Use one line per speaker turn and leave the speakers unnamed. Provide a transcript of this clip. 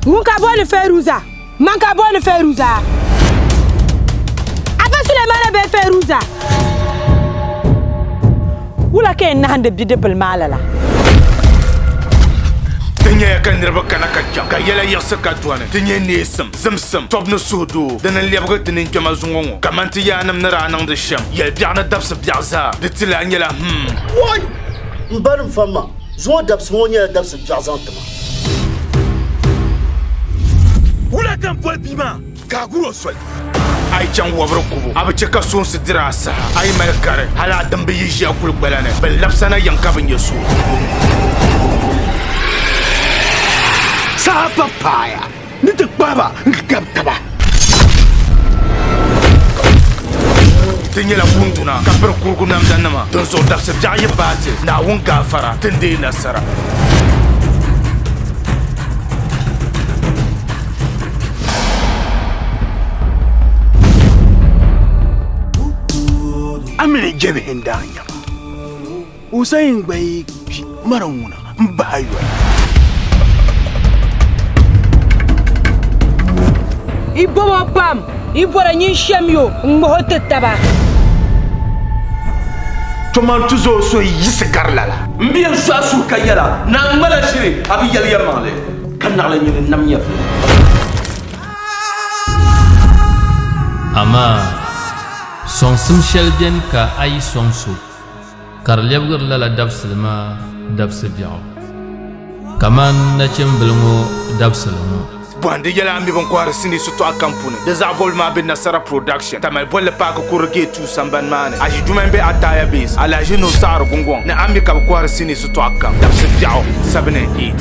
Ŋun ka boli Feruza, man ka boli Feruza. Afa Sulemana bɛ Feruza. Wula ka yɛn nahindi bidibbil maa lala?
Ti nyɛya ka niriba kana ka kpɛm, ka yɛla yiɣisi ka dɔni. Ti nyɛ neesim, zimsim, tɔbu ni suhudoo din n lɛbigi ti ninkpɛma zuŋɔ ŋɔ, kaman ti yaannim ni daa niŋdi shɛm yɛl biɛɣu ni dabisi biɛɣu zaa. Di ti lahi nyɛla, Hum!
M ba ni m fam ma, zuŋɔ dabsi ŋɔ nyɛla dabsi biɛɣu zaŋ ti ma.
Wula ka n boli bia maa ka a gur o soli? A yi chaŋ wabiri kubu, a bi chɛ ka soonsi diri a saha. A yi mali gari, hal a dimba yi ʒi a kuligbala ni, bɛ labisa na yɛm ka bi nya so.
Saha pa paaya Ni ti kpahi ba n-gabi taba.
Ti nyɛla kunduna ka piri kurugu namdanima, dinzuɣu dabsi biɛɣu yi baai ti, Naawuni gaafara, ti ni deei nasara.
Amini jɛbihi n-daa nyɛ ba. Usain gba yi kpi mara ŋuna n bahi yoli.
I bobo pam, i bɔra nyin shem yo n ŋmaho ti taba.
Toman tizo so yi yiɣisi gari lala. M biɛ n sɔɣi suhu
ka yɛla, Naa ŋma la ʒiri, a bi yɛli yɛlimaŋli. Ka naɣila nyu ni nam nyɛvili.
Amaa! Sɔŋsim shɛli beni ka a yi sɔŋ so. ka di lɛbigiri lala dabisili maa dabisi biɛɣu, kamani nachimbili ŋɔ dabisili ŋɔ. Bɔhindi yɛla n mi
bini kɔhiri sinii shitɔɣu kam puuni. Di zaɣ bɔbigu maa be Nasara Production, Tamale bolli paaki kurili Gate Two sambani maa ni. Aʒi duma m-be Ataya Base, Alahaji Nuhu Saɣiri Gungɔŋ ni. A mi ka bɛ kɔhiri sinii shitɔɣu kam dabisi biɛɣu seven and eight.